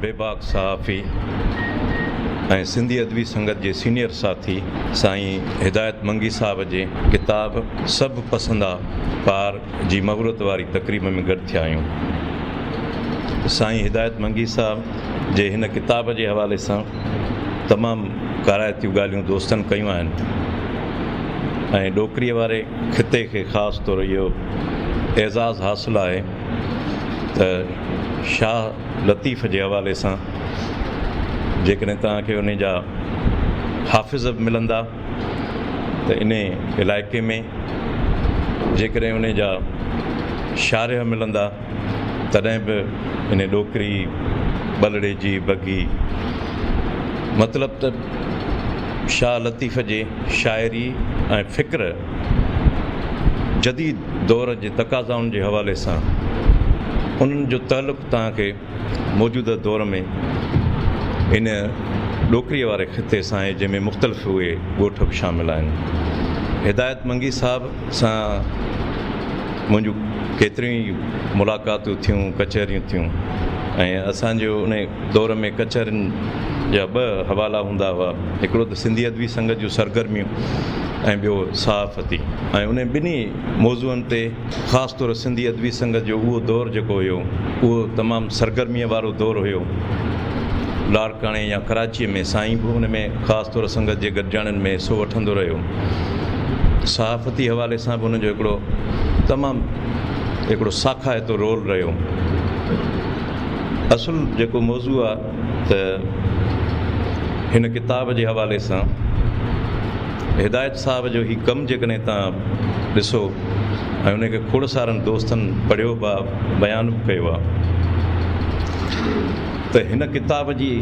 بي باڪ صحافي ۽ سنڌي ادبي سنگت جي سينيئر ساٿي سائين هدايت منگي صاحب جي ڪتاب سڀ پسندا پار جي مغرورت واري تقريب ۾ گڏ ٿيا آهيون. سائين هدايت منگي صاحب جي هن ڪتاب جي حوالي سان تمام ڪارائتيون ڳالهيون دوستن ڪيون آهن ۽ ڏوڪري واري خطي کي خاص طور اهو اعزاز حاصل آهي ته شاهه لطيف جي حوالي سان جيڪڏهن توهان کي ان جا حافظ به ملندا ته انهي علائقي ۾ جيڪڏهن انهي جا شارح ملندا تڏهن به انهي ڏوڪري ٻلڙي جي بگهي مطلب ته شاهه لطيف جي شاعري ۽ فڪر جديد دور جي تقاضائن جي حوالي سان انهن جو تعلق توهان کي موجوده دور ۾ ان ڏوڪريء واري خطي سان آهي جنهن ۾ مختلف اهي ڳوٺ به شامل آهن. هدايت منگي صاحب سان منهنجون ڪيتريون ئي ملاقاتون ٿيون، ڪچهريون ٿيون ۽ اسان جي ان دور ۾ ڪچهرين جا ٻه حوالا هوندا هئا، هڪڙو ته سنڌي ادبي سنگت جون سرگرميون ۽ ٻيو صحافتي ۽ انهن ٻنهي موضوعن تي خاص طور سنڌي ادبي سنگت جو اهو دور جيڪو هيو اهو تمام سرگرميء وارو دور هيو. لاڙڪاڻي يا ڪراچيء ۾ سائين به ان ۾ خاص طور سنگت جي گڏجاڻين ۾ حصو وٺندو رهيو. صحافتي حوالي سان به هن جو هڪڙو تمام هڪڙو ساکائتو رول رهيو. اصل جيڪو موضوع آ. ته هن ڪتاب جي حوالي سان هدايت صاحب جو هي ڪم جيڪڏهن توهان ڏسو ۽ ان کي کوڙ سارن دوستن پڙهيو به آهي بيان به ڪيو آهي ته هن ڪتاب جي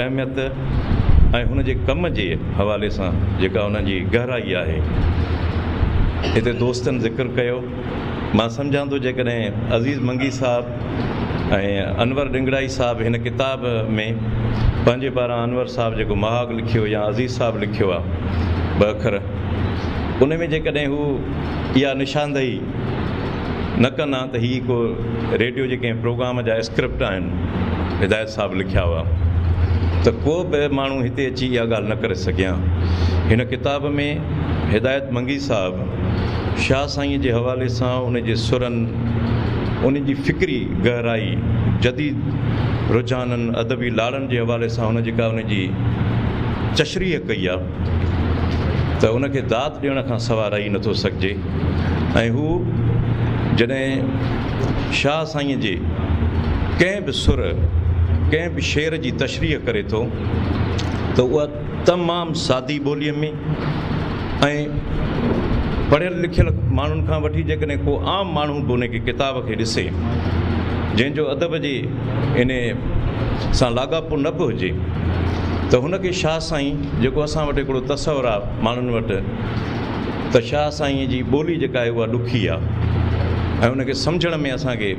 اهميت ۽ هن جي ڪم جي حوالي سان جيڪا ان جي گهرائي آهي هتي دوستن ذڪر ڪيو مان سمجهان ٿو جيڪڏهن عزيز منگي صاحب ۽ انور ڏنگڙائي صاحب هن ڪتاب ۾ پنهنجي پاران انور صاحب جيڪو مهاڳ لکيو يا عزيز صاحب لکيو آ ٻه اکر ان ۾ جيڪڏهن هو اها نشاندهي نه ڪن ها ته هي ڪو ريڊيو جي ڪنهن پروگرام جا اسڪرپٽ آهن هدايت صاحب لکيا هئا ته ڪو به ماڻهو هتي اچي اها ڳالهه نه ڪري سگهي ها هن ڪتاب ۾ هدايت منگي صاحب شاهه سائينء جي حوالي سان ان جي سرن، ان جي فڪري گهرائي، جديد رجحانن، ادبي لاڙن جي حوالي سان هن جيڪا ان جي چشريح ڪئي آ ته ان کي داد ڏيڻ کان سوا رهي نٿو سگهجي ۽ هو جڏهن شاهه سائينء جي ڪنهن به سر، ڪنهن به شعر جي تشريح ڪري ٿو ته اها تمام سادي ٻوليء ۾ ۽ پڙهيل لکيل ماڻهن کان وٺي جيڪڏهن ڪو عام ماڻهو به ان کي ڪتاب کي ڏسي جنهن جو ادب جي ان سان لاڳاپو نه به هجي ته هن کي شاهه سائين جيڪو اسان وٽ هڪڙو تصور آهي ماڻهن وٽ ته شاهه سائينء جي ٻولي جيڪا آهي اها ڏکي آهي ۽ ان کي سمجهڻ ۾ اسان کي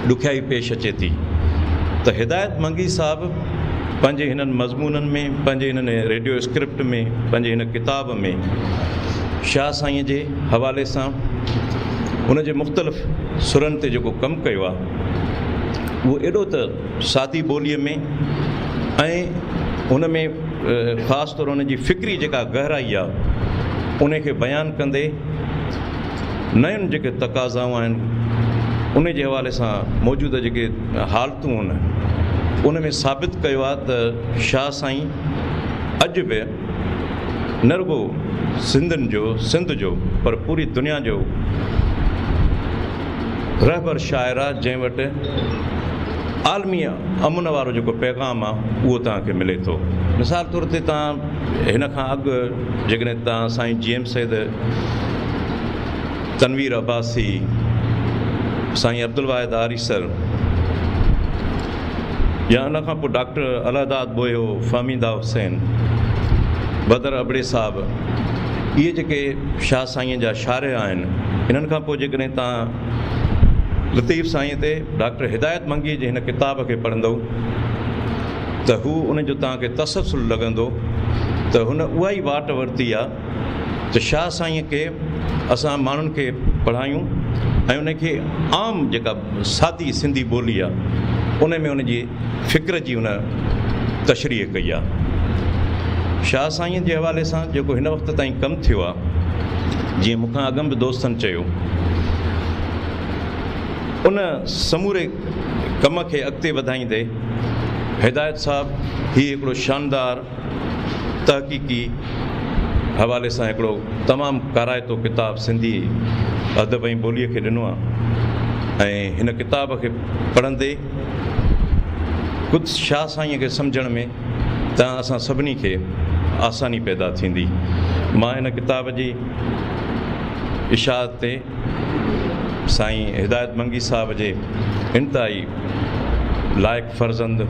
ڏکيائي پيش اچي ٿي ته هدايت منگي صاحب پنهنجي هنن مضمونن ۾ پنهنجي هن ريڊيو اسڪرپٽ ۾ پنهنجي هن ڪتاب ۾ شاهه سائينء جي حوالي سان ان جي مختلف سرن تي جيڪو ڪم ڪيو آهي اهو ايڏو ته سادي ٻوليء ۾ ۽ ان ۾ خاص طور ان جي فڪري جيڪا گهرائي آهي ان کي بيان ڪندي نيون جيڪي تقاضائون آهن ان جي حوالي سان موجوده جيڪي حالتون آهن ان ۾ ثابت ڪيو آهي ته شاهه سائين اڄ به نه رڳو سنڌين جو سنڌ جو پر پوري دنيا جو رهبر شاعر آهي جنهن وٽ عالمي امن وارو جيڪو پيغام آهي اهو تان کي ملي ٿو مثال طور تي تان هن کان اڳ جيڪڏهن توهان سائين جي ايم سيد، تنوير عباسي، سائين عبدالواحد آريسر يا ان کان پوء ڊاڪٽر الهداد ٻوهيو، فهميده حسين، بدر ابڙي صاحب اهي جيڪي شاهه سائينء جا شارح آهن انهن کان پوء جيڪڏهن توهان لطيف سائينء تي ڊاڪٽر هدايت منگيء جي هن ڪتاب کي پڙهندؤ، ته هو ان جو توهان کي تسلسل لڳندو ته هن اها ئي واٽ ورتي آهي ته شاهه سائينء کي اسان ماڻهن کي پڙهايون ۽ ان کي عام جيڪا سادي سنڌي ٻولي آهي ان ۾ ان جي فڪر جي ان تشريح ڪئي آهي شاهه سائينء جي حوالي سان جيڪو هن وقت تائين ڪم ٿيو آهي جيئن مون کان اڳم به دوستن چيو ان سموري ڪم کي اڳتي وڌائيندي هدايت صاحب هي هڪڙو شاندار تحقيقي حوالي سان هڪڙو تمام ڪارائتو ڪتاب سنڌي ادب ۽ ٻوليء کي ڏنو آهي ۽ هن ڪتاب کي پڙهندي خود شاهه سائينء کي سمجهڻ ۾ ته اسان سڀني کي آساني پيدا ٿيندي مان هن ڪتاب جي اشاعت تي سائين هدايت منگي صاحب جي انتهائي لائق فرزند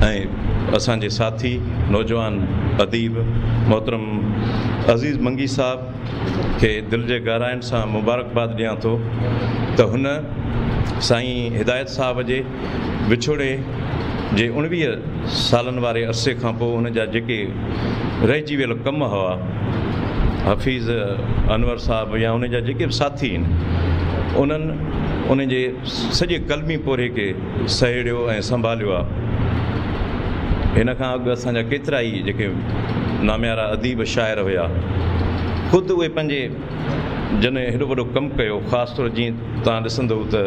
۽ اسان جي ساٿي نوجوان اديب محترم عزيز منگي صاحب کي دل جي گهراين سان مبارڪباد ڏيان ٿو ته هن سائين هدايت صاحب جي وڇوڙي جي اڻويهه سالن واري عرصي کان پوء ان جا جيڪي رهجي ويل ڪم هئا، حفيظ انور صاحب يا ان جا جيڪي به ساٿي آهن، انهن ان جي سڄي قلمي پورهيي کي سهيڙيو ۽ سنڀاليو آ. هن کان اڳ اسان جا ڪيترا ئي جيڪي ناميارا اديب شاعر هيا، خود اهي پنهنجي. جنھن ھيڏو وڏو ڪم ڪيو خاص طور جيئن توھان ڏسندؤ ته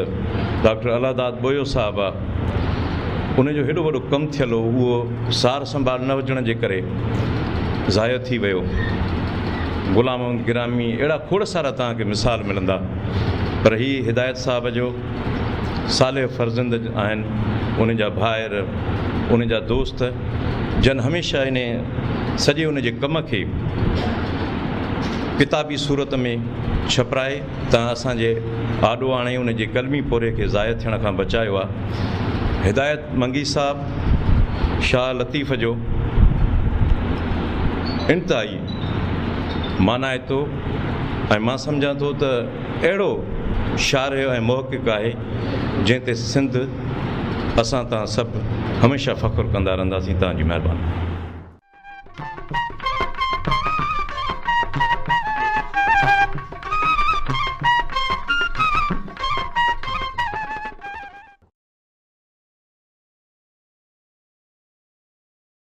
ڊاڪٽر الله داد ٻوھيو صاحب آ ان جو ھيڏو وڏو ڪم ٿيل ھو اھو سار سنڀال نه ھجڻ جي ڪري ضايع ٿي ويو غلام محمد گرامي اھڙا کوڙ سارا توھان کي مثال ملندا پر ھي ھدايت صاحب جو صالح فرزند آهن، ان جا ڀائر، ان جا دوست، جن هميشه ان سڄي ان جي ڪم کي ڪتابي صورت ۾ ڇپرائي ته اسان جي آڏو آڻي ان جي قلمي پورهيي کي ضايع ٿيڻ کان بچايو آ. هدايت منگي صاحب شاهه لطيف جو انتهائي مانائتو ۽ مان سمجهان ٿو ته اهڙو شارح ۽ محقق آهي، جنهن تي سنڌ اسان تان سڀ هميشه فخر ڪندا رهنداسين. توهان جي مهرباني.